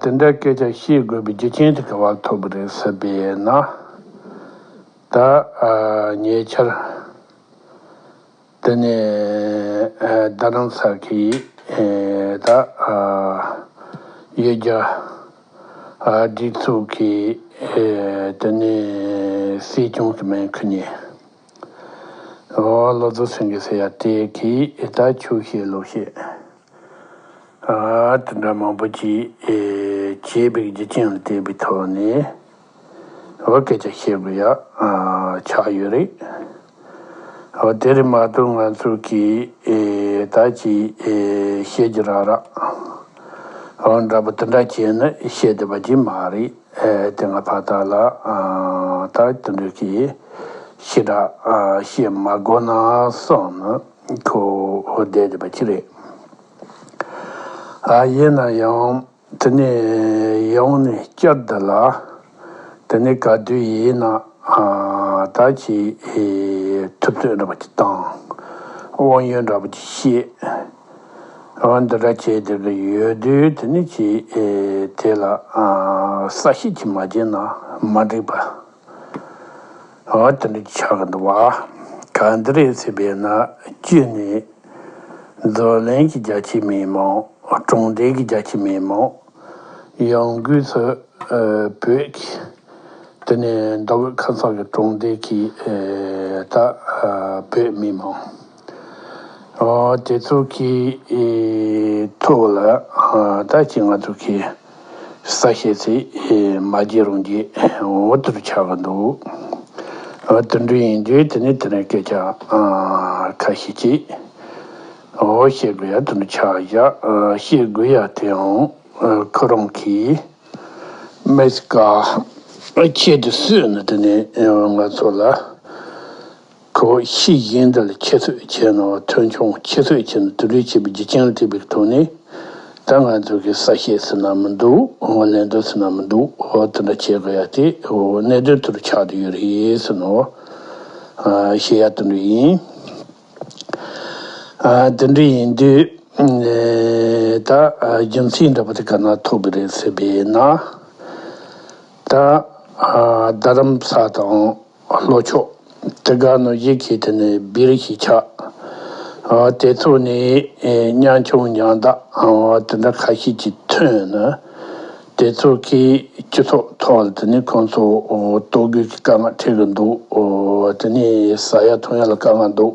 དེ་འདྲའི་སྐད་ཆ་བཤད་དགོས་པའི་རྒྱུ་རྐྱེན་དེ་ག་བ་ཐོབ་གི་རེད་ཟེར་པས་ན། ད་ཉེ་ཆར་དེ་ནས་རྡ་རམ་ས་གིས་ད་ཡོད་རྒྱ་སྒྲིག་འཛུགས་ཀྱི་དེ་ནས་སྲིད་སྐྱོང་གི་སྨན་ཁུ་ནས་ཨོ་ལོ་ཛོ་སེང་གེ་ཟེར་ཡ་དེ་གིས་ད་ཆོས་བཤད་ལོ་བཤད། དེ་འདྲ་མང་པོ་ཅི་བྱེད་པའི་རྒྱུ་རྐྱེན་ལ་བལྟས་པའི་ཐོག་ནས་ཨོ་སྐད་ཆ་བཤད་དགོས་ཡ་ཆགས་ཡོད་རེད། ཨོ་དེ་རིང་མ་གཏོགས་ང་ཚོ་གིས་ད་ཅི་བཤད་རྒྱུ་རག་རག་ཨོ་འདྲ་པོ་དེ་འདྲ་བྱས་ནས་བཤད་བསྡད་པ་ཅི་མ་རེད་དེ་ང་ཕ་ད་ལ་ད་དེ་འདྲ་གི་ཞེ་དྲག་བཤད་མ་དགོས་ན་བསམ། ཁོ་བོ་བསྡད་ཡོད་པ་ཅི་རེད། ཡིན་ན་ཡང་དེ་ནས་ཡོང་ནས་སྐྱར་བསྡད་ལ། དེ་ནས་ག་དུས་ཡིན་ན་ད་ཅི་ཐུབ་ཚོད་འདྲ་པོ་ཅིག་དང། དབང་ཡོད་འདྲ་པོ་ཅིག་བཤད། འོན་འདི་འདྲ་བྱས་བསྡད་ཀྱི་ཡོད་དུས་དེ་ནས་ཀྱིས་དེ་ལ་ས་བཤད་ཅིག་མ་བྱས་ན་མ་འགྲིག་པ། ཨོ་དེ་འདྲ་ཆགས་འདུག་བ། ག་འདི་རེད་ཚེ་བས་ན་བཅུད་ནས། རྫོ་ལན་གྱི་རྒྱ་ཆེའི་མི་མང། གྲོང་རྡལ་གྱི་རྒྱ་ཆེའི་མི་མང། ཡང་སྒོས་སུ། བོད་ཀྱི། དེ་ནས་མདོ་དབུས་ཁ་སང་གི་གྲོང་རྡལ་གྱི། ད་བོད་མི་མང། དེ་ཚོ་གི་ཐུགས་ལ་ད་ཅི་ང་ཚོ་གི་ས་ཤེད་ཚེ་མ་རྗེ་རུང་རྗེ་འོ་དུ་རུ་ཆགས་ཀྱི་འདུག་དུད་འགྲོ་ཡིན་དུས་དེ་ནས་དེ་ནས་སྐད་ཆ་ཁ་ཤས་ཀྱི་འོ་བཤད་དགོས་ཡ་དུ་འདུ་ཆགས་བཞག་བཤད་དགོས་ཡ་དེའང་ཁོ་རང་གི་མེ་སི་ཀ་ཁྱེད་དུ་བསུས་ནས་དེ་ནས་ང་ཚོ་ལ་ཁོ་བོ་ཤིས་དབྱིན་འདི་ལ་ཁྱད་གསོད་བྱས་གནང་བ་ཐོས་འཁྱོངས་ཁྱད་གསོད་བྱས་ནས་དུད་འགྲོའི་བྱེད་པོའི་རྒྱུ་རྐྱེན་ལ་ཐེབས་པའི་ཐོག་ནས་ད་ང་ཚོ་གི་ས་བཤད་ཟེར་ན་མི་འདུག་ངོ་ལེན་འདོད་ཟེར་ན་མི་འདུག་འོ་དེ་འདྲ་བྱེད་དགོས་ཡ་དེ་འོ་གནད་དོན་དེ་རུ་ཆགས་འདུག་ཡོད་རེད་ཟེར་ནའོ་ཤེས་ཡ་དེ་འདྲ་ཡིན། དེ་འདྲ་ཡིན་དུས་ད་རྒྱུ་མཚན་འདྲ་པོ་དེ་ག་ན་ཐོབ་གི་རེད་ཟེར་བས་ན་ད་རྡ་རམ་ས་དང། ལྷོ་ཕྱོགས། དེ་གར་ནི་ཡིད་ཀྱི་དེ་ནི་བིར་ཞེས་བྱ། དེ་ཚོ་ནི་གཉང་ཆུང་གཉང་བདག་དེ་འདྲ་ཁ་ཤས་ཀྱིས་ཐོན་ན། དེ་ཚོ་གིས་སྤྱི་ཚོགས་ཐོག་ལ་དེ་ནི་ཁོང་ཚོ་ལྟོ་གོས་ཀྱི་དཀའ་ངལ་འཕྲད་གི་འདུག་དེ་ནི་ཟ་ཡ་འཐུང་ཡ་ལ་དཀའ་ངལ་འདུག།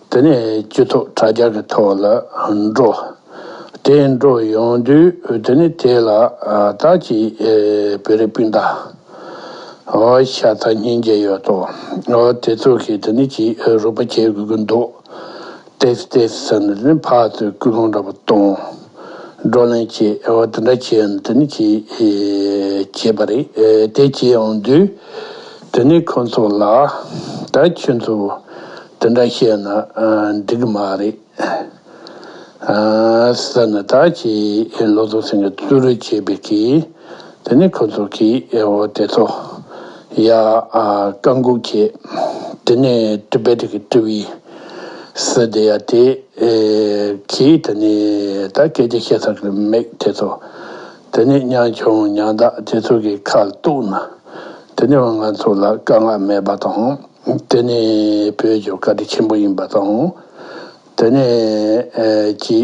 དེ་ནས་སྤྱི་ཚོགས་དྲ་རྒྱ་གི་ཐོག་ལ་འགྲོ། དེ་འགྲོ་ཡོང་དུས་དེ་ནི་དེ་ལ་དྭགས་ཀྱི་བོད་རིགས་སྤུན་ཟླ་ཤ་ཚ་སྙིང་རྗེ་ཡོད་དོ། དེ་ཚོ་གིས་དེ་ནི་ཅི་རུག་པ་བྱེད་དགོས་ཀྱི་འདུག་ཏེས་ཏེས་ཟེར་ནས་དེ་ནི་ཕག་ཚོས་སྐུལ་སློང་འདྲ་པོ་གཏོང། བགྲོ་གླེང་བྱེད། དེ་འདྲ་བྱས་ནས་དེ་ནི་ཅི་བྱེད་པ་རེད། དེ་བྱེད་ཡོང་དུས་དེ་ནི་ཁོ་ཚོ་ལ་ད་ཁྱོད་ཚོ་དེ་འདྲ་བཤད་ན་འགྲིག་མ་རེད། ཟེར་ནས་དག་གིས་ལོ་ཙོ་སེང་གེ་བཙུར་རུ་བྱེད་པས་ཀི་དེ་ནས་ཁོ་ཚོ་གིས་འོ་དེ་ཚོ་ཡ། བཀའ་འགུག་ཁྱེད་དེ་ནས་དྲི་བས་དྲི་གི་དྲི་བས། ཟེར་དེ་ཡ་དེ་གིས་དེ་ནས་ད་སྐད་ཆ་བཤད་ས་གི་མེད་དེ་ཚོ་དེ་ནས་གཉའ་ཆུང་གཉའ་བདག་དེ་ཚོ་གི་ཁ་གཏུགས་ན་དེ་ནས་བ་ང་ཚོ་ལ་དཀའ་ངལ་མེད་པ་དང། དེ་ནི་བོད་ཀྱི་བཀའ་དྲིན་ཆེན་པོ་ཡིན་པ་དང། དེ་ནས་ཀྱི་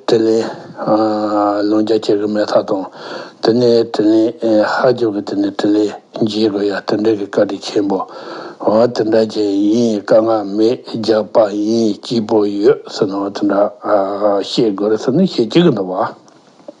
དྲིན་ལན་ལོ་འཇའ་བྱེད་ཀྱི་མེད་ཐག་དང། དེ་ནས་དྲིན་ལན་ཧ་རྒྱོབ་ཀྱི་དེ་ནས་དྲིན་ལན་འཇལ་དགོས་ཡ་དེ་འདྲ་གི་བཀའ་དྲིན་ཆེན་པོ། དེ་འདྲ་ཅན་ཡིན་དཀའ་ངལ་མེད་རྒྱག་པ་ཡིན་སྐྱིད་པོ་ཡོད་ཟེར་ནའོ་དེ་འདྲ་བཤད་དགོས་རེད་ཟེར་ནས་བཤད་ཀྱི་གི་འདུག་བ།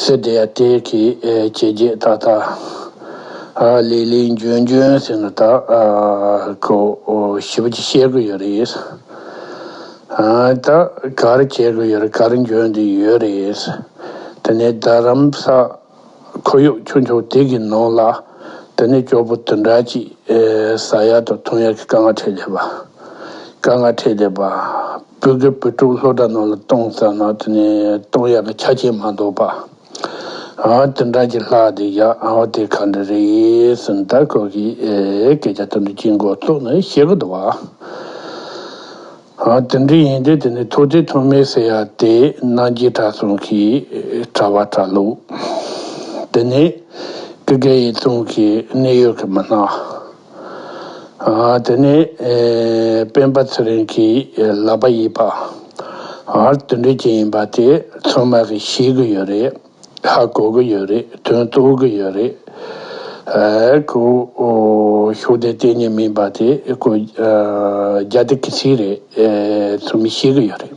སེར་དེ་ཡ་དེ་གི་ཇེ་རྒྱས་ཏག་ཏག། ལེགས་ལེགས་འབྱོན་འབྱོན་ཟེར་ནས་ད་ཁོ་ཞི་བ་ཅིག་བཤད་དགོས་ཡོད་རེད། ད་གར་བྱེད་དགོས་ཡོད་རེད་གར་འབྱོན་དུ་ཡོད་རེད། དེ་ནས་རྡ་རམ་ས་ཁོར་ཡུག་ཆུང་ཆུང་དེ་གི་ནང་ལ་དེ་ནས་སྐྱོ་པོ་དུ་འདྲ་ཅིག་ཟ་ཡག་དང་འཐུང་ཡག་གི་དཀའ་ངལ་འཕྲད་ལས་པ་དཀའ་ངལ་འཕྲད་ལས་པ། བོད་སྐད་བོད་ཕྲུག་ལྷོ་བྲག་ནང་ལ་གཏོང་བསམ་ན་དེ་ནི་གཏོང་ཡག་གི་ཆ་རྐྱེན་མ་འདུག་པ། ཨང་དེ་འདྲ་ཞིག་ལྷག་དེ་ཡག་ཨང་དེ་ག་འདྲ་རེད་གསུངས་ད་ཁོ་གིས་སྐད་ཆ་དེ་འདྲ་གཅིག་མགོ་བཙུགས་ནས་བཤད་གི་འདུག་བ། ཨང་དེ་འདྲ་ཡིན་དུས་དེ་ནི་ཐུགས་རྗེ་ཐོགས་མེད་ཟེར་ཡག་དེ་གནང་རྒྱུའི་དྲ་གསུང་གི་དྲ་བ་དྲ་ལུགས་དེ་ནི་ཀི་ཀ་ཡིན་གསུངས་གི་གནས་ཡོད་གི་མི་སྣ། དེ་ནས་སྤེན་པ་ཚེ་རིང་གིས་ལག་པ་གཡས་པ། ཨར་དོན་འགྲུལ་སྐྱེལ་ཡིན་པ་དེ་ཚང་མ་གིས་ཤེས་གི་ཡོད་རེད། ཧ་གོ་གི་ཡོད་རེད་དོན་རྟོགས་གི་ཡོད་རེད། ཁོ་ཤོག་དེ་གཏན་ནས་མིན་པ་དེ་ཁོ་རྒྱ་དེ་གི་ཚིག་རེད་ཚང་མས་ཤེས་གི་ཡོད་རེད།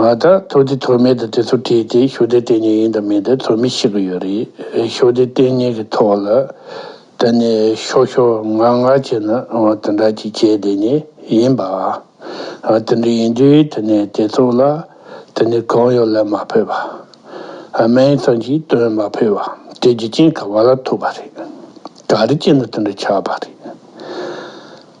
ང་ལྟར་ཐུགས་རྗེ་ཐོགས་མེད་དུ་དེ་ཚོ་བྲིས་ཏེ་ཞོ་སྡེ་གཏན་ཉིན་ཡིན་དང་མིན་དེ་ཚོ་མི་ཤེས་གི་ཡོད་རེད། ཞོ་སྡེ་གཏན་ཉིན་གི་ཐོག་ལ་དེ་ནས་ཤོ་ཤོ་ང་ང་བྱེད་ན་དེ་འདྲ་ཅིག་བྱས་དེ་ནི་ཡིན་པ། དེ་འདྲ་ཡིན་དུས་དེ་ནས་དེ་ཚོ་ལ་དེ་ནི་གང་ཡོད་ལབ་མ་ཕོད་པ། སྨན་ཡིག་ཙམ་ཞིག་སྟོན་མ་ཕོད་པ་དེ་རྒྱུ་རྐྱེན་ག་བ་ལ་ཐུག་པ་རེད། ག་རེ་བྱས་ན་དེ་འདྲ་ཆགས་པ་རེད།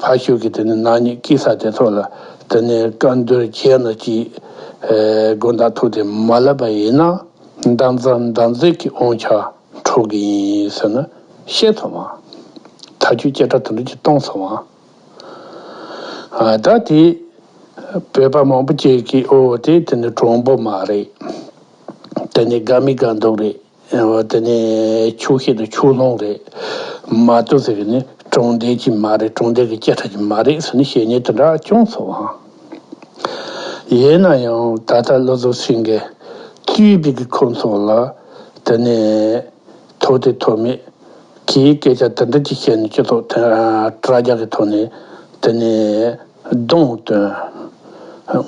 ཕར་ཞོག་གི་དེ་ནས་ནག་ཉེས་སྐྱི་ས་དེ་ཚོ་ལ་དེ་ནས་བཀའ་འདུལ་བྱས་ན་ཅི། དགོན་བདག་ཐུགས་དེ་མ་ལབ་པ་ཡིན་ན་འདམ་རྫབ་འདམ་རྫིག་གི་དབང་ཆ་འཕྲོག་གི་ཡིན་ཟེར་ན་ཤེས་ཐུབ་མ། ད་ཁྱོད་སྐད་གྲགས་དུ་འདྲི་གཅིག་གཏོང་ཚོ་མ། ད་དེ་བོད་པ་མང་པོ་བཅས་ཀྱི་ཨོ་དེ་དེ་ནས་གྲོང་པོ་མ་རེད། དེ་ནས་དགའ་མི་དགའ་འདུག་རེད། ཨེ་ཝོ་དེ་ནི་ཕྱུགས་ཤིན་ཏུ་ཕྱུགས་ལྷུང་རེད། མ་ཏོ་ཟེར་གི་ནི་གྲོང་རྡལ་གྱི་མ་རེད་གྲོང་རྡལ་གྱི་སྐྱེ་ཁྲ་གྱི་མ་རེད་ཟེར་ནི་བཤད་ཉེས་དེ་འདྲ་ཅུང་ཚོར་བ་འང་ཡོད་ན་ཡང་ད་ལྟ་བློ་བཟོ་སིང་གེ་བཅུའི་དུས་ཀྱི་ཁོ་ཚོ་ལ་དེ་ནི་ཐོག་དེ་ཐོག་མེད་གིས་སྐད་ཆ་དེ་འདྲ་གཅིག་བཤད་ནས་སྤྱི་ཚོགས་དྲ་རྒྱ་གི་ཐོག་ནས་དེ་ནི། སྡོང་སྟོན།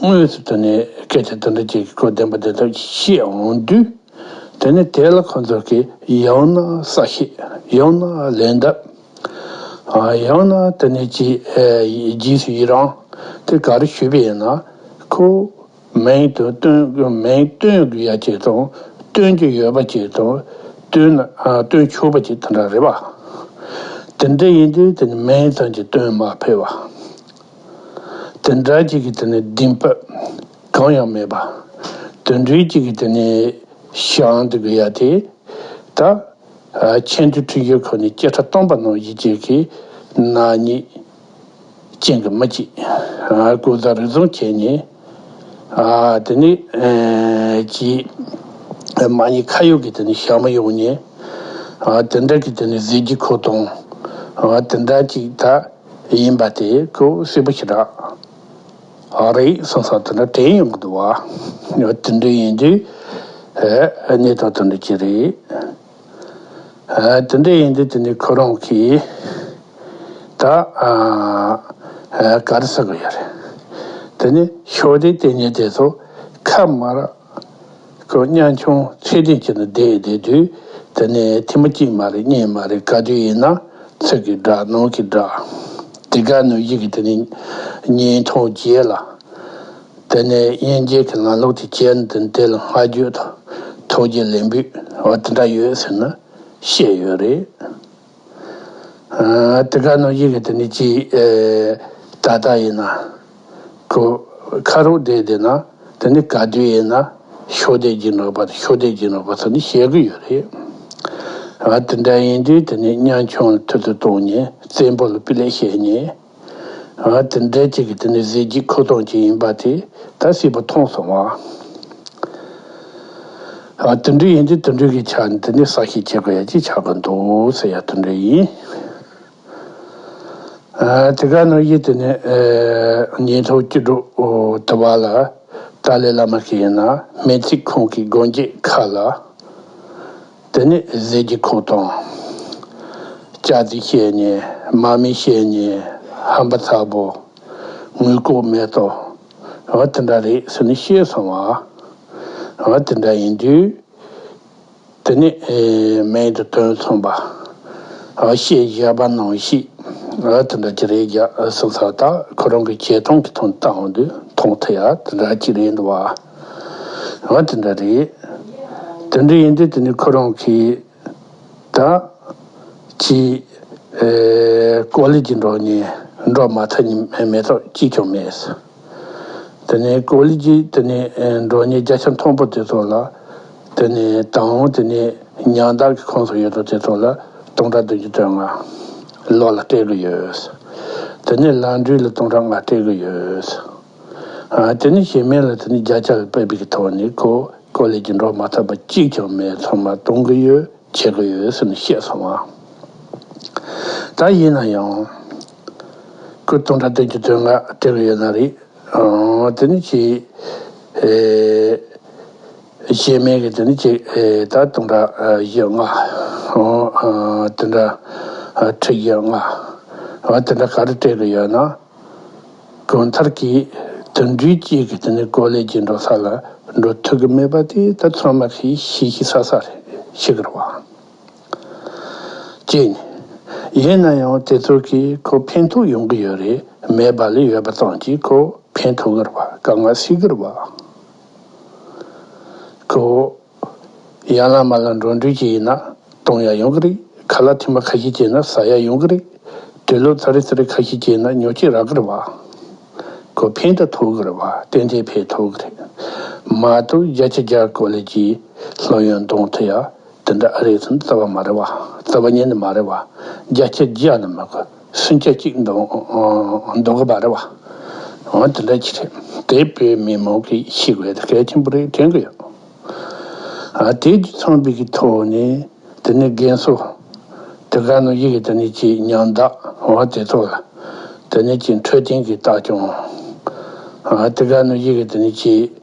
དངོས་སུ་དེ་ནས་སྐད་ཆ་འདི་འདྲ་ཅིག་གི་སྐོར་བདེན་པ་བདེན་ཐབས་ཀྱིས་ཤེས་འོང་དུས། དེ་ནི་དེ་ལ་ཁོ་ཚོ་གིས་ཡང་ན་ས་བཤད་ཡང་ན་ལན་གདབ། ཡང་ན་དེ་ནས་ཅིའི་རྗེས་སུ་ཡི་རང་དེ་ག་རེ་ཞུས་པས་ཡིན་ན་ཁོ། མིང་དུ་སྟོན་མིང་སྟོན་རྒྱུ་ཡ་གཅིག་དང་སྟོན་རྒྱུ་ཡོད་པ་གཅིག་དང་སྟོན་སྟོན་ཆོག་པ་གཅིག་དེ་འདྲ་རེད་པ། དེ་འདྲ་ཡིན་དུས་དེ་ནི་མིང་ཙམ་གྱིས་སྟོན་མ་ཕོད་པ། དེ་འདྲ་གཅིག་གིས་དེ་ནི་བདེན་པ་གང་ཡང་མེད་པ། དེ་འདྲའི་གཅིག་གིས་དེ་ནི་ཞང་འདི་དགོས་ཡ་དེ་ད་ཆེན་དུ་འཁྲིད་རྒྱུ་ཁོ་ནས་སྐད་ཆ་སྟོང་པ་ནང་བཞིན་གཅིག་གིས་ནག་ཉེས། ཅན་གྱི་མི་གཅིག་སྐུ་ལྡོག་རི་རྫོང་ཁྱེད་ནས་དེ་ནས་ཀྱི་མ་ཉེས་ཁ་ཡོག་གི་དེ་ནས་ཞག་མི་ཡོང་ནས་དེ་འདྲ་གི་དེ་ནས་ཟེར་རྒྱུ་ཁོ་དང་དེ་འདྲ་གཅིག་ད་ཡིན་པ་དེ་ཁོ་སེར་པོ་ཞིག་རག་རེད་གསུངས་སོང་དེ་འདྲ་དྲན་ཡོང་གི་འདུག་བ་དེ་འདྲ་ཡིན་དུས་གནས་སྟངས་དེ་འདྲ་གྱི་རེད། དེ་འདྲ་ཡིན་དུས་དེ་ནི་ཁོ་རང་གིས་ད་ག་རེ་ཟེར་གི་ཡོད་རེད། དེ་ནི་ཤོག་དྲིལ་དེ་ཉིད་དེ་ཚོ་ཁ་དམར་ཁོ་གཉའ་ཆུང་ཚད་ལྡན་གྱི་ནང་བསྡད་བསྡད་དུས་དེ་ནི་ཐེངས་མ་གཅིག་མ་རེད་གཉིས་མ་རེད་ག་དུས་ཡིན་ན་ཚིག་གི་སྒྲ་ནང་གི་སྒྲ་དེ་ག་ནུས་ཡི་གི་དེ་ནི་ཉིན་ཐོ་རྒྱས་ལ། དེ་ནས་དབྱིན་ཇིའི་གི་ནང་ལོགས་ཀྱི་ཅན་དེ་འདི་ལ་སྔ་རྒྱུད་དང་ཐོག་རྒྱུད་ལས་འབུད་བ་དེ་འདྲ་ཡོད་ཟེར་ན་བཤད་ཡོད་རེད། དེ་ག་ནང་བཞིན་གི་དེ་ནི་ཅི་ད་ལྟ་ཡིན་ན་གོ་ཁ་རུ་བསྡད་བསྡད་ན་དེ་ནི་ག་དུས་ཡིན་ན་ཤོ་བསྡད་ཀྱིན་རོགས་པ་དང་ཤོ་བསྡད་ཀྱིན་རོགས་པ་ཚོ་ནི་བཤད་གི་ཡོད་རེད། དེ་འདྲ་ཡིན་དུས་དེ་ནི་གཉའ་ཆུང་ལ་ཐུ་ཐུ་གཏོང་ཉེན་བཙན་པོ་ལ་སྤི་ལེ་བཤད་ཉེན། ཨ་དེ་འདྲས་ཅིག་གིས་དེ་ནི་གཟི་བརྗིད་ཁུག་སྟངས་ཅིག་ཡིན་པ་དེ་ད་སྲིད་པོ་མཐོང་སོང་ཨ། ཨ་དེ་འདྲས་ཡིན་དུས་དེ་འདྲས་ཀྱིས་ཆ་འདི་ནས་ཟ་ཤེས་བྱེད་དགོས་ཡ་ཅིག་ཆགས་དགོས་འདུག་ཟེར་ཡ་དེ་འདྲས་ཡིན། དེ་ག་ནོར་གྱིས་དེ་ནས་ཉིན་ཐོ་སྐྱིད་སྒྲོག་དུ་བ་ལ་ཏཱ་ལའི་བླ་མ་ཞིག་ཡིན་ན་སྨན་ཚིག་ཁང་གི་སྒོ་འགྱེད་ཁ་ལ། དེ་ནས་ཟས་ཀྱི་ཁུག་དང། ལྕགས་རྩི་བཤལ་ནས་མར་མེ་བཤལ་ནས་ཧམ་པ་ཚ་བོ། ངུས་ལྐོག་མེད་དོ། འོ་དེ་འདྲ་རེད་ཟེར་ནས་བཤད་སོང་བ། འོ་དེ་འདྲ་ཡིན་དུས། དེ་ནས་མེད་དུ་དོན་མཚུངས་པ། འོ་བཤད་བཞག་པ་ནང་བཤིག། འོ་དེ་འདྲ་ཅི་རེད་རྒྱག་སོང་ཚ་ད་ཁོ་རང་གི་བྱས་སྟངས་ཀྱི་ཐོང་སྟངས་དུ་མཐོང་ཐུབ་ཡ་དེ་འདྲ་ཅིག་རེད་འདུག་བ། ང་དེ་འདྲ་རེད། དེ་འདྲ་ཡིན་དུས་དེ་ནི་ཁོ་རང་གིས་ད། ཅི། ཀོ་ལི་ཇི་འདྲོགས་ནས་འདྲོགས་མ་ཐག་ཉི་མས་མེ་ཏོག་གཅིག་ཀྱང་མེད། དེ་ནས་ཀོ་ལི་ཇི་དེ་ནས་འདྲོགས་ནས་རྒྱ་ཆ་མཐོན་པོ་དེ་ཚོ་ལ། དེ་ནས་དང་བོ་དེ་ནས་ཉང་བདག་གི་ཁོངས་སུ་ཡོད་དོ་དེ་ཚོ་ལ་སྟོང་ཕྲག་བདུན་ཅུ་དོན་ལྔ། ལོག་ལ་སྤྲད་གི་ཡོད། དེ་ནས་ལམ་འགྲུལ་ལ་སྟོང་ཕྲག་ལྔ་སྤྲད་གི་ཡོད། དེ་ནི་ཞེན་མེད་ལ་དེ་ནི་བརྒྱ་ཆ་བའི་དཔེ་དཔེ་ཀྱི་ཐོག་ནས་གོ་གོ་ལས་ཀྱི་འགྲོ་མ་ཐག་པ་གཅིག་ཀྱང་མེད་ཚང་མ་གཏོང་གི་ཡོད་བྱེད་ཀྱི་ཡོད་ཟེར་ནས་བཤད་སོང་ང། ད་ཡིན་ན་ཡང། སྐུ་གདུང་དྲ་སྟེང་གི་དོན་ལྔ་བྲིས་ལ་ཡོད་ན་རེད། དེ་ནི་གཅིག། ཞེན་མེད་ཀྱི་དེ་ནི་གཅིག་ད་གདུང་དྲ་བཞི་ལྔ། དེ་འདྲ་ཁྲི་བཞི་ལྔ། དེ་འདྲ་ག་རེ་བྲིས་ཀྱི་ཡོད་ན། གྲོང་མཐར་གྱི་དུད་འགྲོའི་དཀྱིལ་གྱི་དེ་ནི་གོ་ལའི་རྒྱུན་འགྲོ་ས་ལ་འགྲོ་ཐུབ་ཀྱི་མེད་པ་དེ་ད་ཚོད་མ་ཤི་ཤི་ཤི་ས་ས་ཞིག་རེད་བ། གཅིག་ནས། ཡིན་ན་ཡང་དེ་ཚོ་གིས་ཁོ་ཕན་ཐོགས་ཡོང་གི་ཡོད་རེད་མེད་པ་ལས་ཡོད་པ་ཙམ་གྱིས་ཁོ་ཕན་ཐོགས་གི་རེད་བ་དཀའ་ངལ་སེལ་གི་རེད་བ། ཁོ། ཡང་ལ་མ་ལ་འགྲོ་འདོད་ཅིག་ཡིན་ན་གཏོང་ཡ་ཡོང་གི་རེད་ག་ལ་ཐིམ་པ་ཁ་ཤས་སྐྱེས་ན་ཟ་ཡ་ཡོང་གི་རེད་དུས་ལོ་ཚ་རེ་ཚ་རེ་ཁ་ཤས་སྐྱེས་ན་ཉོ་སྐྱེས་རག་གི་རེད་བ་གོ་ཕན་ད་ཐོག་གི་རེད་བ་ཏན་ཏན་ཕན་ཐོག་གི་རེད་མ་གཏོགས་རྒྱ་ཆ་རྒྱ་གོ་ལའི་རྗེས་ལྷོད་ཡོན་གཏོང་ཐུབ་ཡ་དེ་འདྲ་ཨ་རེ་ཚུན་རྩ་བ་མ་རེད་བ་རྩ་བ་ཉན་ནི་མ་རེད་བ་རྒྱ་ཆ་རྒྱ་ནི་མ་གོ། སུན་ཆ་གཅིག་འདུག་གི་པ་རེད་བ། འོན་དེ་འདྲ་གྱི་རེད་དེ་བོད་མི་མང་གི་ཤེས་དགོས་དེ་གལ་ཆེན་པོ་རེད་དྲན་གི་ཡོད། དེའི་རྒྱུ་ཚང་བོད་ཀྱི་ཐོག་ནས་དེ་ནས་རྒན་གསོ་དེ་ག་ནང་ཡི་གི་དེ་ནས་ཀྱི་ཉམས་བདག་འོན་དེ་ཚོ་ལ་དེ་ནས་ཀྱི་འཕྲོད་བསྟེན་གི་བརྟག་བྱུང་དེ་ག་ནང་ཡི་གི་དེ་ནས་ཀྱི།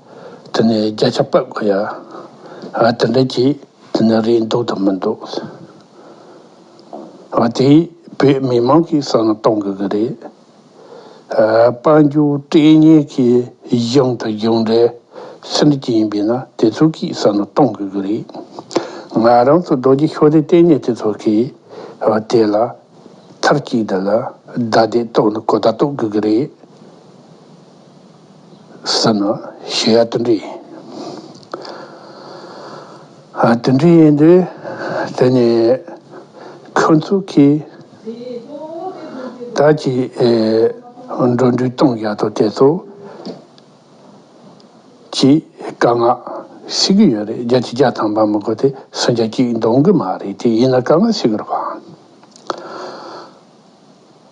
དེ་ནས་བརྒྱ་ཆ་པད་གོ་ཡ། ཨ་དེ་འདྲ་གྱིས་དེ་ནས་རེད་འདུག་དང་མི་འདུག། ཨ་དེ་བོད་མི་མང་གི་བསམ་བློ་གཏོང་དགོས་ཀྱི་རེད། དཔལ་འབྱོར་སྤྲེལ་ཉེ་གི་གཞུང་དང་གཞུང་འབྲེལ་ཟེར་འདྲི་གི་ཡིན་པས་ན་དེ་ཚོ་གིས་བསམ་བློ་གཏོང་དགོས་ཀྱི་རེད། ང་རང་ཚོ་རྡོ་རྗེ་ཤོག་དྲིལ་ལྟེ་གནས་དེ་ཚོ་གིས་དེ་ལ་ཐར་གཅིག་དེ་ལ་བརྡ་དེ་གཏོང་ནི་གོ་བརྡ་གཏོང་དགོས་ཀྱི་རེད། ས་ནོ། ཞེས་ཡར་ལྟོ་འདྲི། ལྟོ་འདྲི་ཡིན་དུས་དེ་ནི་ཁོ་ཚོ་གིས་ད་ཅི་འགྲོ་འདྲུད་གཏོང་བཞག་ཐོ་དེ་ཚོ་གྱིས་དཀའ་ངག་བཤད་གི་ཡོད་རེད་རྒྱ་ཆེ་རྒྱ་ཐང་པ་མི་དགོ་དེ་སུ་རྒྱ་སྐྱིད་འདོང་གི་མ་རེད་དེ་ཡིན་ན་དཀའ་ངག་བཤད་གི་རོགས།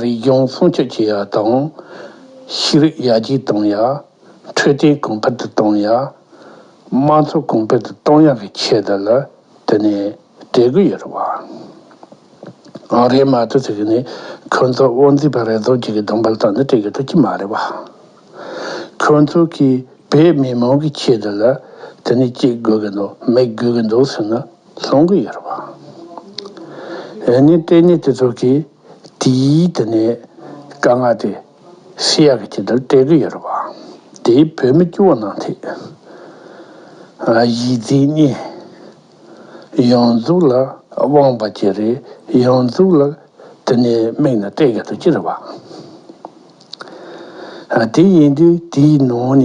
རིག་གཞུང་སྲུང་སྐྱོབ་བྱེད་ཡག་དང། ཤེས་རིག་ཡར་རྒྱས་གཏོང་ཡག། འཕྲོད་བསྟེན་གོང་འཕེལ་དུ་གཏོང་ཡག། དམངས་འཚོ་གོང་འཕེལ་དུ་གཏོང་ཡག་གི་ཆེད་དུ་ལ་དེ་ནས་གྲོས་འགོ་ཡོད་རེད་བ། ཨང་རེད་མ་གཏོགས་ཚིག་གི་ནི་ཁོ་ཚོ་དབང་འཛིན་པ་རེ་ཟུང་གཅིག་གི་གདོང་འབག་ཙམ་ནི་སྤྲད་གི་འགྲོ་གི་མ་རེད་བ། ཁོ་ཚོ་གིས་བོད་མི་མང་གི་ཆེད་དུ་ལ་དེ་ནས་ཅིག་དགོས་གི་འདུག་མེད་དགོས་གི་འདུག་ཟེར་ན། གསུང་གི་ཡོད་པ། འོན་ནི་ལྟས་ངན་དེ་ཚོ་གིས་དེའི་དེ་ནས་དཀའ་ངལ་དེ་སི་ཡ་གི་ཁྱི་དེར་སྤྲད་གི་ཡོད་པ། དེས་བོད་མི་སྐྱུ་བ་གནང་ཐེ། གཞིས་རྩེ་གཉིས། ཡོངས་རྫོགས་ལ་དབང་བ་ཀྱི་རེད་ཡོངས་རྫོགས་ལ་དེ་ནས་དམིགས་ན་སྤྲད་གི་འདུག་ཅི་རེད་བ། དེ་ཡིན་དུས་དེའི་ནང་ནས་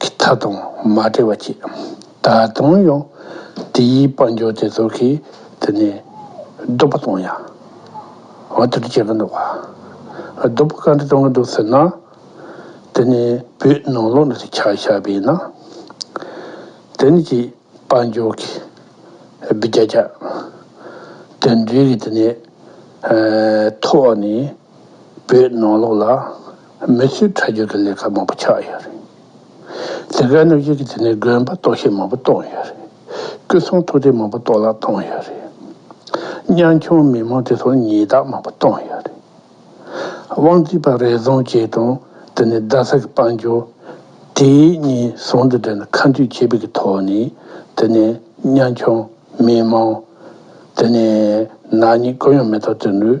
གི་མཐའ་དང་མ་བྲལ་བ་ཅི། ད་དུང་ཡང་དེའི་དཔལ་འབྱོར་དེ་ཚོ་གིས་དེ་ནས་སྡུག་པ་གཏོང་ཡ། འོ་དེ་འདྲ་བྱེད་ཀྱི་འདུག་ག། སྡུག་པ་ག་འདྲ་གཏོང་གི་འདུག་ཟེར་ན། དེ་ནས་བོད་ནང་ལོགས་ནས་དེ་ཆགས་ཆགས་པས་ན། དེ་ནས་ཀྱི་དཔལ་འབྱོར་གྱི་སྦི་རྒྱ་རྒྱ། དེ་འདྲའི་གི་དེ་ནས་ཐོག་ནས་བོད་ནང་ལོགས་ལ། མི་ཚོས་ཁྲག་རྒྱུན་གྱི་ལས་ཀ་མང་པོ་ཆགས་ཡོད་རེད། ལས་ཀའི་གནོད་སྐྱོན་གྱི་དེ་ནས་དགོན་པ་གཏོར་བཤིག་མང་པོ་གཏོང་ཡོད་རེད། སྐུ་ཚོང་ཐུག་འཕྲད་མང་པོ་གཏོར་བརླག་གཏོང་ཡོད་རེད། གཉང་ཁྱུང་མི་མང་དེ་ཚོར་ཉེས་རྟགས་མང་པོ་གཏོང་ཡོད་རེད། དབང་རྩིས་པ་རེ་ཟུང་བཅས་དང་དེ་ནས་རྡ་ས་གི་དཔལ་འབྱོར། དེ་གཉིས་ཟུང་དུ་འབྲེལ་ནས་ཁ་མཆུ་ཆེ་སྤེལ་གྱི་ཐོག་ནས་དེ་ནས་གཉང་ཁྱུང་མི་མང། དེ་ནས་ནག་ཉེས་ཀུན་ཡང་མེད་ཐབས་བཙལ་འདོད།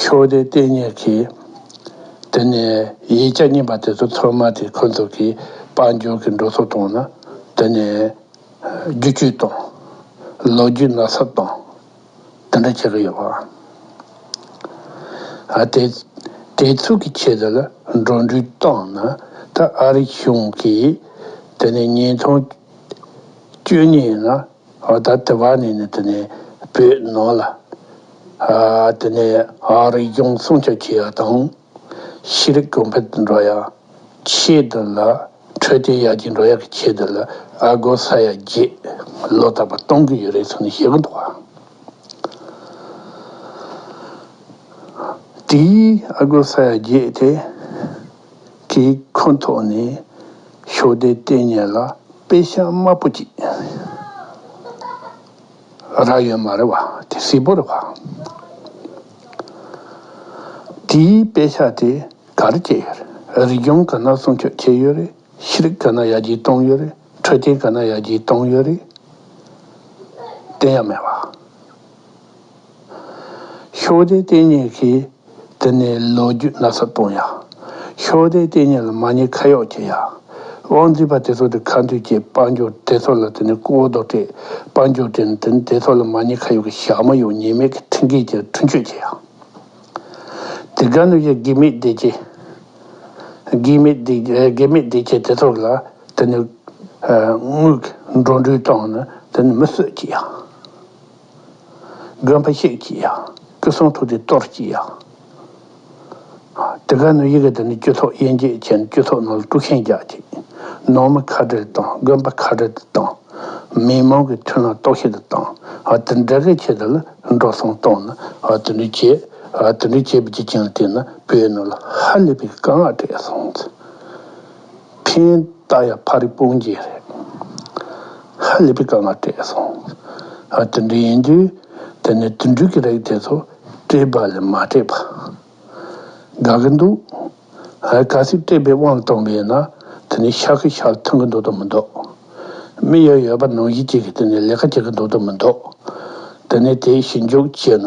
ཤོ་སྡེ་ལྟས་ངན་གྱིས། དེ་ནས་ཡིག་བརྒྱ་རྙིང་པ་དེ་ཚོ་ཚོད་མ་དེ་འཁོན་ཐུབ་ཀྱིས་དཔའ་འབྱོར་གྱི་འགྲོ་སོང་བཏང་ན། དེ་ནས་རྒྱུ་གཅོད་དང། ལོ་རྒྱུས་ནག་སབ་དང། དེ་འདྲ་བྱེད་ཀྱི་ཡོད་པ། དེ་དེ་ཚོད་ཀྱི་ཆེད་དུ་ལ་འགྲོ་འགྲུལ་བཏང་ན་ད་ཨ་རིག་གཞུང་གིས་དེ་ནས་ཉིས་སྟོང་བཅུ་གཉིས་ལ། ད་ལྟ་བ་ནས་ནི་དེ་ནི་བོད་ནང་ལ། དེ་ནི་ཨ་རིའི་གཞུང་སྲུང་བྱ་ཆེ་བ་དང། ཤེས་རིག་གོང་འཕེལ་དུ་འགྲོ་ཡག་ཆེད་དུ་ལ། འཕྲོད་བསྟེན་ཡར་རྒྱས་འགྲོ་ཡག་གི་ཆེད་དུ་ལ་ཨ་སྒོར་ས་ཡ་བརྒྱད་ལོ་རྟག་པར་གཏོང་གི་ཡོད་རེད་ཟེར་ནས་བཤད་ཀི་འདུག་བ། དེའི་ཨ་སྒོར་ས་ཡ་བརྒྱད་དེ། དེའི་ཁོངས་ཐོག་ནས་ཤོག་སྡེ་ལྟེ་གཉེར་ལ་དཔེ་ཤ་དམར་པོ་གཅིག་རག་ཡོད་མ་རེད་བ། དེ་ཧྲིལ་པོ་རེད་བ། དེའི་དཔེ་ཤ་དེ་ག་རེ་བཅད་ཡོད་རེད། རི་སྐྱོང་ག་ན་སྲུང་སྐྱོབ་བྱས་ཡོད་རེད། ཤེས་རིག་ག་ན་ཡར་རྒྱས་གཏོང་ཡོད་རེད། འཕྲོད་བསྟེན་ག་ན་ཡར་རྒྱས་གཏོང་ཡོད་རེད། བསྟན་ཡག་མེད་བ། ཤོག་སྡེའི་ལྟེ་གནས་ཀྱིས་དེ་ནས་ལོ་རྒྱུས་ན་ཚ་གཏོང་ཡ། ཤོག་སྡེའི་ལྟེ་གནས་ལ་མ་ཉེས་ཁ་གཡོག་བྱེད་ཡ། དབང་འཛིན་པ་དེ་ཚོ་དེ་ཁ་མཐུན་གྱི་དཔལ་འབྱོར་སྡེ་ཚོགས་ལ་དེ་ནས་སྐུ་འོ་དོ་ཀྲེས་དཔལ་འབྱོར་སྡེ་ནི་དེ་ནས་སྡེ་ཚོགས་ལ་མ་ཉེས་ཁ་གཡོག་གི་ཞག་མ་ཡོ་ཉེས་མེད་ཀྱི་ཁྲིམས་འགལ་གྱི་ཁྲུན་གཅོད་བྱེད་ཡ། དེ་ག་ནུ་ཡ་དགེ་མེད་སྡེ་བྱེད། དགེ་མེད་སྡེ་དགེ་མེད་སྡེ་བྱེད་དེ་ཚོགས་ལ་དེ་ནས་དངུལ་གྱི་འགྲོ་འདྲུད་བཏང་ནས་དེ་ནས་མི་གསོད་བྱེད་ཡ། དགོན་པ་གཅིག་གིས་ཡང་སྐུ་གསུང་ཐུགས་ཀྱི་གཏོར་གྱིས་ཡང། འདི་ག་ནི་ཡི་གེ་འདི་ནི་རྒྱུ་ཐོག་དབྱེ་འབྱེད་ཅན་རྒྱུ་ཐོག་ནང་ལ་དཀྲུག་མཁན་རྒྱ་ཆེ། ནང་མི་ཁ་བྲལ་དང་དགོན་པ་ཁ་བྲལ་དུ་བཏང། མི་མང་གི་མཐུན་ལ་རྟོག་ཤེས་དུ་བཏང། དེ་འདྲ་གི་ཆེད་དུ་ལ་འགྲོ་སོང་གཏོང་ནི་དེ་འདྲ་བྱེད། དེ་འདྲ་བྱེད་པའི་རྒྱུ་རྐྱེན་དེས་ན་བོད་ནང་ལ་ཧ་ལས་པའི་དཀའ་ངལ་སྤྲད་སོང། ཁེན་རྟ་ཡ་ཕ་རི་སྤུན་རྒྱལ་རེད། ཧ་ལས་པའི་དཀའ་ངལ་སྤྲད་སོང། ཧ་དེ་འདྲ་ཡིན་དུས་དེ་ནས་དུད་འགྲོས་ཀྱི་རེག་དེ་ཚོ་སྤྲད་པ་ལས་མ་སྤྲད་པ། དགའ་གི་འདུག། ཧའི་ག་ཚིག་སྤྲད་པའི་དབང་གཏོང་བས་ན་དེ་ནས་ཤག་གི་ཤག་ཐོན་གི་འདུག་དོ་མི་འདུག། མི་ཡོད་ཡོད་པ་ནང་བཞིན་གྱིས་ཀྱི་དེ་ནས་ལས་ཀ་བྱེད་གི་འདུག་དོ་མི་འདུག། དེ་ནས་དེའི་ཞིབ་འཇུག་བྱས་ན།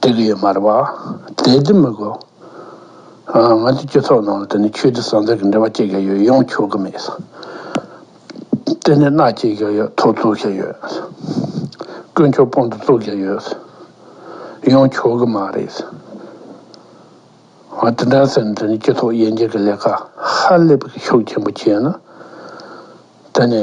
དེ་གི་ཡོད་མར་བ། དེ་དེ་མི་གོ། ང་ཚོའི་སྤྱི་ཚོགས་ནང་ལ་དེ་ནི་ཆོས་དད་བསམ་ཚུལ་གྱི་འབྲེལ་བ་བཅད་ཀྱང་ཡོད་ཡོང་ཆོག་གི་མེད། དེ་ནི་མནའ་བསྐྱེལ་ཀྱང་ཡོད་ཐོ་བཙུགས་ཀྱང་ཡོད། དཀོན་མཆོག་དཔང་དུ་བཙུགས་ཀྱང་ཡོད། ཡོང་ཆོག་གི་མ་རེད། ང་དེ་འདྲ་ཟེར་ན་དེ་ནི་སྤྱི་ཚོགས་དབྱེ་འབྱེད་ཀྱི་ལས་ཀ་ཧ་ལས་པའི་ཤུགས་ཆེན་པོ་བྱས་ན་དེ་ནི།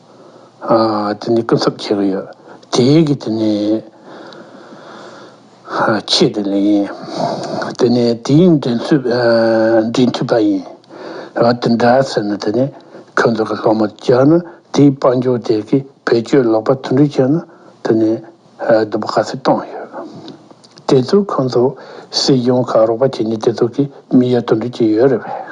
དེ་ནས་སྐུ་ཚབ་ཁྱེར་གི་ཡོད། དེའི་གི་དེ་ནས། ཆེད་དུ་ལས་ཡིན། དེ་ནས་དེའི་འབྲེལ་མཐུད། འབྲེལ་མཐུད་པ་ཡིན། དེ་འདྲ་ཟེར་ན་དེ་ནས་ཁྱོད་ཚོ་གི་སློབ་མ་བཅར་ན་དེའི་དཔའ་འབྱོར་དེ་གི་བེད་སྤྱོད་ལོག་པ་དུད་འགྲོ་བྱས་ན་དེ་ནས་སྡུག་པོ་ག་ཚོད་གཏོང་ཡོད། དེ་ཚོ་ཁོང་ཚོ་སྲིད་གཞུང་ག་རོགས་པ་བྱས་ནས་དེ་ཚོ་གི་མི་ཡ་དུད་འགྲོ་བྱས་ཡོད་རེད་བས།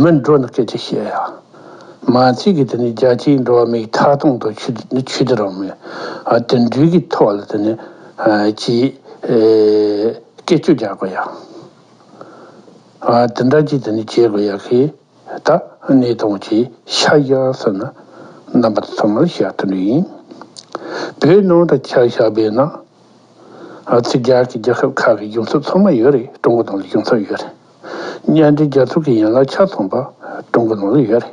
མི་འགྲོ་ནི་སྐད་ཅིག་བཤད་ཡ། མ་ཚིག་གིས་དེ་ནི་རྒྱ་ཆེའི་འགྲོ་བ་མིའི་མཐའ་སྟོང་དུ་ཆུད་དུ་རུང་མོད། དོན་འགྲུལ་གྱི་ཐོག་ལ་དེ་ནི་ཅི། སྐད་ཅོ་རྒྱག་དགོས་ཡ། དེ་འདྲ་ཅིག་དེ་ནི་བྱེད་དགོས་ཡ་ཞེས་ད་ནི་སྟོང་ཆེའི་ཤ་ཞག་ཟེར་ན་རྣམ་པ་ཚང་མར་བཞག་ཐུབ་ནི་ཡིན། བོད་ནང་དུ་ཁྱག་ཞག་སྦས་ན། ཚིག་རྒྱག་གི་རྒྱལ་ཁབ་ཁག་གི་གཞུང་ཚབ་ཚང་མ་ཡོད་རེད་ཀྲུང་གོ་དང་ལ་གཞུང་ཚབ་ཡོད་རེད། གཉེན་སྒྲིག་རྒྱག་ཐུབ་ཀྱི་ཡན་ལག་ཆ་ཚང་པ་བསྐྲུན་གྱི་ལོང་ལོ་ཡོད་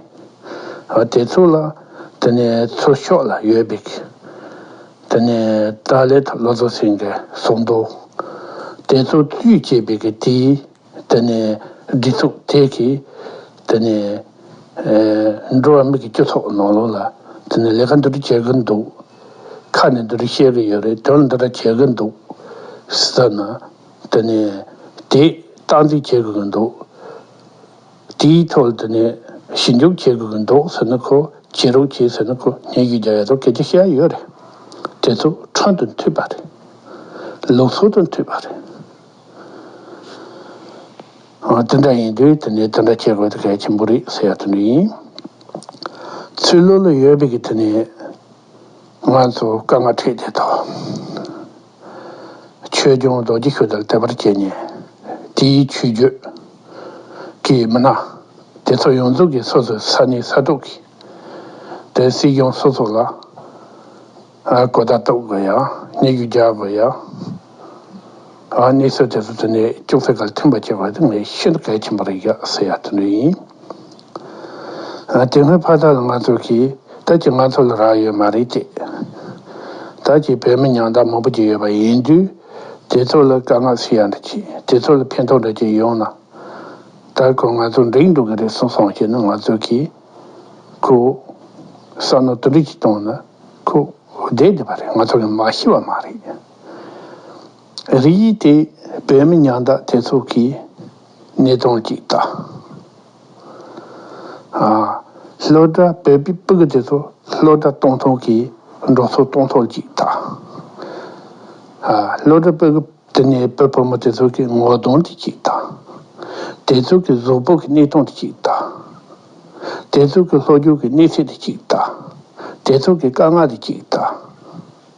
རེད། དེ་ཚོ་ལ་དེ་ནས་ཚུར་ཤོག་ལ་ཡོད་པིག། དེ་ནས་ཏཱ་ལའི་ཐ་ལོ་ཚོ་སེང་གེ་སོགས་འདུག་དེ་ཚོ་བཙུད་ཅེས་པིག་གི་དེ་དེ་ནས་སྒྲིག་ཚུགས་དེ་གིས་དེ་ནས་འགྲོ་བ་མི་གི་སྐྱོ་ཚོགས་ནང་ལོང་ལ་དེ་ནས་ལས་ཀ་འདི་འདྲ་བྱེད་གི་འདུག་ཁ་ནས་འདི་འདྲ་བཤད་གི་ཡོད་རེད་དོན་འདི་འདྲ་བྱེད་གི་འདུག་སི་ད་ན། དེ་ནས་དེས་སྟངས་འཛིན་བྱེད་དགོས་ཀྱི་འདུག་དེའི་ཐོག་དེ་ནས་ཞིབ་འཇུག་བྱེད་དགོས་ཀྱི་འདུག་ཟེར་ན་ཁོ་བྱེད་རོགས་བྱེད་ཟེར་ན་ཁོ་ཉན་ཞིག་རྒྱག་ཡ་རོགས་གལ་ཆེ་ཤ་ཡོད་རེད། དེ་ཚོ་ཁྲོན་དུ་འཐུས་པ་རེད། ལུགས་སྲོལ་དུ་འཐུས་པ་རེད། དེ་འདྲ་ཡིན་དུས་དེ་ནས་དེ་འདྲ་བྱེད་དགོས་དེ་གལ་ཆེན་པོ་རེད་ཟེར་ཡ་དེ་འདྲ་ཡིན། ཚུལ་བློ་ལ་ཡོད་པའི་གི་དེ་ནས། ང་ཚོས་དཀའ་ངལ་འཕྲད་རྗེས་ཐག་ཆོད་ལྗོངས་རྡོ་རྗེ་ཤུལ་དུ་དལ་བར་བྱས་ནས་དེའི་ཆུས་རྒྱུད་ཀྱི་མི་སྣ་དེ་ཚོ་ཡོངས་རྫོགས་ཀྱིས་སོ་སོའི་ས་གནས་ས་ཐོག་གི་དེ་སྲིད་གཞུང་སོ་སོ་ལ་གོ་བརྡ་གཏོང་དགོས་ཡ་སྙད་རྒྱུ་རྒྱག་དགོས་ཡ། གནས་ཚུལ་དེ་ཚོ་དེ་ནས་ཅུང་ཟད་གལ་ཆེན་པོ་སྐྱེས་པ་དེ་ངས་ཤིན་ཏུ་གལ་ཆེན་པོ་རེད་ཟེར་ཡག་དེ་འདྲ་ཡིན། དེ་སྔོན་ཕ་དག་ལ་ང་ཚོ་གིས་ད་ཀྱི་ང་ཚོ་ལ་རག་ཡོད་མ་རེད་ཅེས། ད་ཀྱི་བོད་མི་ཉང་བདག་མང་པོ་ཅིག་ཡོད་པ་ཡིན་དུས་དེ་ཚོ་ལ་དཀའ་ངལ་སུ་ཡང་འདྲ་ཅིག་དེ་ཚོ་ལ་ཕན་ཐོགས་འདྲ་ཅིག་ཡོང་ན། ད་ཁོ་ང་ཚོ་འགྲིག་འགྲོ་གི་རེད་གསུངས་སོང་ཞེས་ན་ང་ཚོ་གིས་ཁོའི་བསམ་བློ་དུ་འགྲིག་ཅིག་གཏོང་ན་ཁོ་བསྡད་བསྡད་པ་རེད་ང་ཚོ་ལ་མ་ཤི་བ་མ་རེད། རིགས་ཡིག་དེ་བོད་མི་ཉག་འདག་དེ་ཚོ་གི་གནས་སྟངས་ཅིག་ལྟ། ལྷོ་བྲག་བོད་པའི་པུཀུ་དེ་ཚོ་ལྷོ་བྲག་སྟོང་ཐུང་གི་འབྲོག་ཚོ་སྟོང་ཐུང་ཅིག་ལྟ། ལྷོ་བྲག་པུཀུ་དེ་ནས་བོད་ཕོ་མོ་དེ་ཚོ་གི་ངོ་གདོང་དེ་ཅིག་ལྟ། དེ་ཚོ་གི་གཟུགས་པོ་གི་གནས་སྟངས་དེ་ཅིག་ལྟ། དེ་ཚོ་གི་ལྷོ་རྒྱུག་གི་གནས་ཚད་དེ་ཅིག་ལྟ། དེ་ཚོ་གི་དཀའ་ངལ་དེ་ཅིག་ལྟ།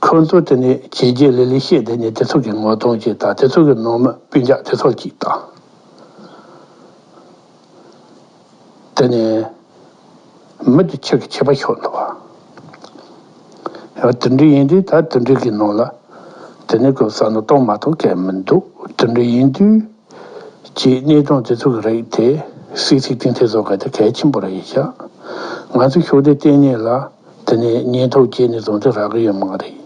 ཁོ་ཚོ་དེ་ནི་བྱས་རྗེས་ལས་ལས་ཤེས་དེ་ནི་དེ་ཚོ་གི་ངོ་གདོང་གཅིག་དང་དེ་ཚོ་གི་ནང་མི་སྤུན་རྒྱག་དེ་ཚོ་གཅིག་དང། དེ་ནི་མི་དེ་ཁྱེད་ཀྱི་ཁྱད་པར་ཤོར་འདུག་ཡང་དུད་འགྲིག་ཡིན་དུས་ད་དུད་འགྲིག་གི་ནང་ལ་དེ་ནི་གོ་ས་ནི་གཏོང་མ་གཏོང་གལ་མི་འདུག་དུད་འགྲིག་ཡིན་དུས་ཀྱི་གནས་སྟངས་དེ་ཚོ་གི་རིགས་དེ་སིག་སིག་ཏིང་ཏིང་བཟོ་མཁན་དེ་གལ་ཆེན་པོ་རེད་ཤག་ང་ཚོས་ཤོག་དྲིལ་གཏན་ཉིན་ལ། དེ་ནས་ཉེན་ཐོག་བསྐྱལ་ནས་བཟུང་སྟེ་རག་གི་ཡོད་མ་རེད།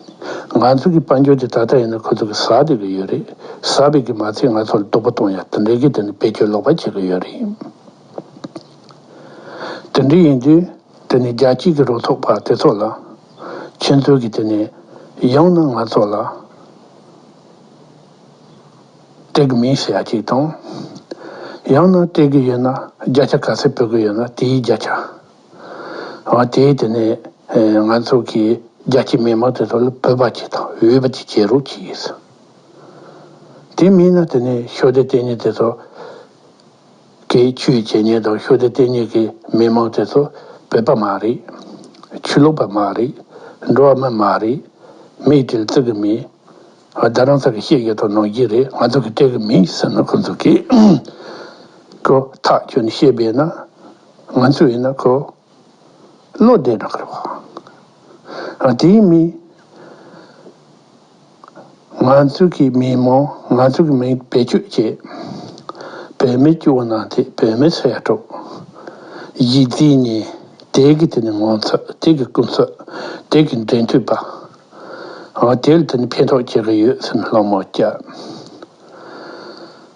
ང་ཚོ་གི་དཔལ་འབྱོར་དེ་ད་ལྟ་ཡིན་ན་ཁོ་ཚོ་གི་ཟ་བདེ་གི་ཡོད་རེད་ཟ་བའི་གི་མ་ཚད་ང་ཚོ་ལ་སྡུག་པོ་གཏོང་ཡ་དེ་འདྲའི་གི་དེ་ནི་བེད་སྤྱོད་ལོག་པ་བྱེད་གི་ཡོད་རེད། དེ་འདྲའི་ཡིན་དུས་དེ་ནི་རྒྱལ་སྤྱིས་གི་རོ་ཐོག་པ་དེ་ཚོ་ལ་ཁྱེད་ཚོས་གི་དེ་ནི་ཡང་ན་ང་ཚོ་ལ་སྤྲད་གི་མིན་ཞེས་ཡ་གཅིག་དང། ཡང་ན་སྤྲད་གི་ཡོད་ན་རྒྱ་ཆ་ག་ཚད་ཕུལ་གི་ཡོད་ན་དེའི་རྒྱ་ཆ་བ་དེའི་དེ་ནས་ང་ཚོ་གི་རྒྱལ་སྤྱིའི་མི་མང་དེ་ཚོ་ལ་བོད་པ་གཅིག་དང་འོས་པ་གཅིག་བྱེད་རོགས་གྱིས་ཡོད། དེ་མིན་ན་དེ་ནས་ཤོ་སྡེ་གཏན་ཉེ་དེ་ཚོ་གི་ཆུའི་བྱས་ཉེས་དང་ཤོ་སྡེ་གཏན་ཉེ་གི་མི་མང་དེ་ཚོ་བོད་པ་མ་རེད། ཆུ་ལོག་པ་མ་རེད། འགྲོ་བ་མི་མ་རེད། མིག་འབྲས་བཙིར་གི་མིན། བདག་རང་ཚ་གི་ཤེས་ཀྱི་དང་ནང་གི་རེད་ང་ཚོ་གི་སྤྲད་གི་མིན་ཟེར་ན་ཁོ་ཚོ་གིས། ཀོ་ཐག་ཁྱོད་ནས་བཤད་པས་ན། ང་ཚོས་ཡིན་ན་ཁོ་བློ་བདེ་བགྲོ་གར་བ་རང་དེ་ཡིན་མིན། ང་ཚོས་གི་མི་མང་ང་ཚོས་གི་མི་བེད་སྤྱོད་བྱེད་བོད་མི་སྐྱོ་བོ་ནང་དེ་བོད་མི་ཚོ་ཡར་འགྲོ། ཡིད་རྫི་ཉེ་དེ་གི་དེ་ནི་ངོ་ཚོད་དེ་གི་ཀུན་ཚོད་དེ་གི་འབྲེལ་མཐུད་པ་རང་དེ་ལ་དེ་ནི་ཕན་ཐོག་བྱེད་གི་ཡོད་སེམས་ལྷག་མ་བསྐྱལ།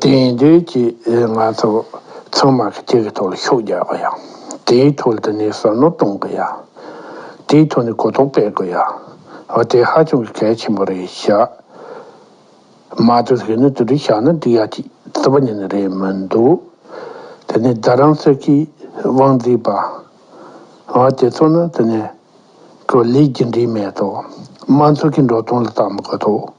དེ་ཡིན་དུས་ཀྱི་ང་ཚོ་ཚང་མ་ཁྱེད་ཀྱི་ཐོག་ལ་ཤུགས་རྒྱག་གི་ཡ། དེའི་ཐོག་ལ་དེ་ནས་བསམ་བློ་གཏོང་གི་ཡ། དེའི་ཐོག་ནས་གོ་རྟོགས་སྤེལ་དགོས་ཡ། དེ་ཧ་ཅང་གི་གལ་ཆེན་པོ་རེད་བཞག་མ་དེ་ཟེར་ནས་དུ་དྲི་བཞག་ན་འགྲིག་ཡ་ཅིག་རྩི་བ་ཉིད་ནི་རེད་མི་འདུག་དེ་ནས་རྡ་རམ་ས་ཁའི་དབང་འཛིན་པ་དེ་ཚོ་ནི་དེ་ནས་ཀྱི་ལས་ཀྱི་འབྲེལ་མེད་དོ་དམ་ཚོགས་ཀྱི་འགྲོ་སྟངས་ལ་བལྟ་མི་དགོས་དོ།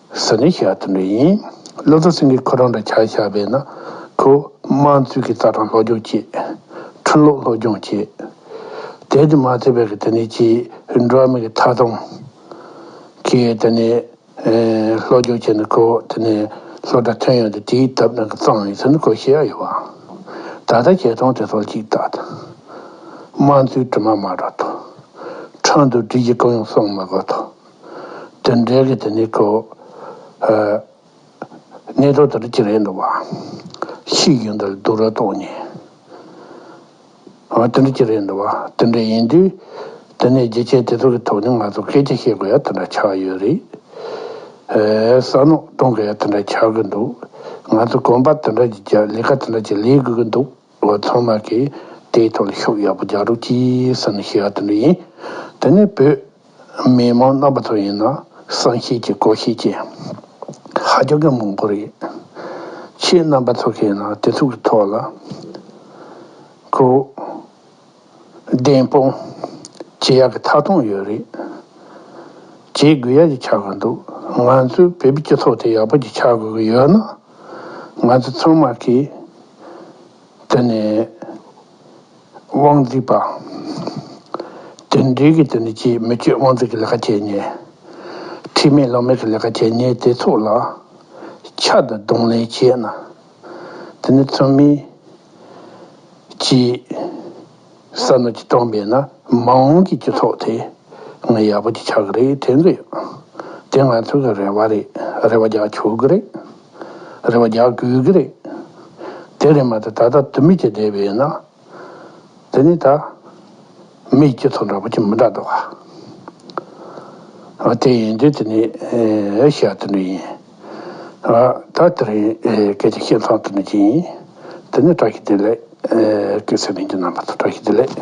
ཟེར་ནས་བཤད་དེ་འདྲ་ཡིན། བློ་བཟང་སེང་གེས་ཁོ་རང་འདྲ་ཆགས་ཆགས་བས་ན། ཁོས་དམངས་གཙོའི་གི་རྩ་ཁྲིམས་ལྷོ་སྒྱོང་བྱེད། ཁྲིམས་ལུགས་ལྷོ་སྒྱོང་བྱེད། དེ་དེ་མ་ཚད་པས་གི་དེ་ནས་ཅི། འགྲོ་བ་མི་གི་མཐའ་བསྡོམས། གི་དེ་ནས། ལྷོ་སྒྱོང་བྱེད་ནས་ཁོ་དེ་ནས། ལྷོ་སྒྲ་ཐོན་ཡོང་དེ་དེའི་ཐབས་རང་གི་གཙང་ཡིན་ཟེར་ནས་ཁོས་བཤད་ཡ་ཡོད་བ། ད་ལྟ་བྱས་ཙང་དེ་སོགས་ཅིག་བལྟ། དམངས་གཙོའི་དྲི་མ་མ་བསྒྲགས་ཐོ། ཁྲག་འདུལ་བསྒྲིལ་གྱི་ཀུན་ཡོང་སོང་མ་དགོས་ཐོ། དོན་འགྲེལ་གྱི་དེ་ནི་གྲོ་ནས་གྲོ་དེར་ཅི་རེད་འདུག་བཤིག་ཡོད་འདུག་སྡུག་ར་གཏོང་ཉེན་ཨོ་དེ་འདྲ་ཅི་རེད་འདུག་དེ་འདྲ་ཡིན་དུས་དེ་ནས་རྒྱུ་ཆའི་དེ་ཚོ་གི་ཐོག་ནས་ང་ཚོ་སྐད་ཆ་བཤད་དགོས་ཡ་དེ་འདྲ་ཆགས་ཡོད་རེད་ཟ་ནོག་གཏོང་དགོས་ཡ་དེ་འདྲ་ཆགས་ཀྱི་འདུག་ང་ཚོ་གོམ་པ་དེ་འདྲ་ཀྱི་རྒྱབ་ལས་ཀ་དེ་འདྲ་ཅི་ལས་དགོས་ཀྱི་འདུག། ངོ་ཚང་མ་གིས་དེའི་ཐོག་ལ་ཤུགས་ཡག་པོ་རྒྱག་རོགས་གྱིས་ཟེར་ནས་ཞུས་ཡག་དེ་འདྲ་ཡིན། དེ་ནས་བོད་མི་མང་རྣམ་པ་ཚོ་ཡིན་ན་བསམ་ཤེས་ཀྱིས་གོ་ཤེས་ཀྱིས་ཧ་རྒྱག་གི་མང་པོ་རེད། ཁྱེད་རྣམ་པ་ཚོ་གིས་ན་དེ་ཚུགས་ཀྱི་ཐོག་ལ་གོ། བདེན་དཔང། ཇི་ཡག་གི་མཐའ་མཐོང་ཡོད་རེད། ཇེ་དགོས་ཡག་གི་ཆགས་དགོས་འདུག་ང་ཚོའི་བོད་པའི་སྤྱི་ཚོགས་དེ་ཡག་པོ་གི་ཆགས་དགོས་གི་ཡོད་ན། ང་ཚོ་ཚང་མ་གི། དེ་ནས། དབང་རྫིག་པ། དེ་འདྲའི་གི་དེ་ནས་ཇི་མི་སྤྱོད་དབང་རྫིག་གི་ལས་ཀ་བྱས་ཉེས། ཁྲིམས་མེད་ལུགས་མེད་གི་ལས་ཀ་བྱས་ཉེས་དེ་ཚོ་ལ། ཕྱག་དང་རྡུང་ལེན་བྱས་ན། དེ་ནི་ཚང་མིའི་སྤྱིའི་བསམ་བློ་གཅིག་མཚུངས་མེད་ན་མ་འོངས་ཀྱི་སྤྱི་ཚོགས་དེ་ང་ཡག་པོ་ཅིག་ཆགས་ཀྱི་རེད་དྲན་གྱི་ཡོད། དེ་ང་ཚོ་གི་རེ་བ་རེད་རེ་བ་རྒྱག་ཆོག་གི་རེད། རེ་བ་རྒྱག་དགོས་ཀྱི་རེད། དེ་རེད་མ་ཏེ་ད་ལྟ་དུ་མི་བྱེད་བསྡད་པས་ན། དེ་ནས་ད། མིའི་སྐྱེ་ཚོགས་འདྲ་པོ་ཅི་མི་འདྲ་འདུག་ག། ཨ་དེ་ཡིན་དུས་དེ་ནི་ཨེ་ཤེ་ཡ་དུད་འགྲོ་ཡིན། ཨ་ད་དེ་རིང་སྐད་ཅིག་ཤེས་མཚམས་དུད་འགྲོ་ཅི་ཡིན། དེ་ནི་བཀྲ་ཤིས་བདེ་ལེགས། སྐད་ཚིག་ལེན་རྒྱུ་རྣམ་པ་ཚོ་བཀྲ་ཤིས་བདེ་ལེགས།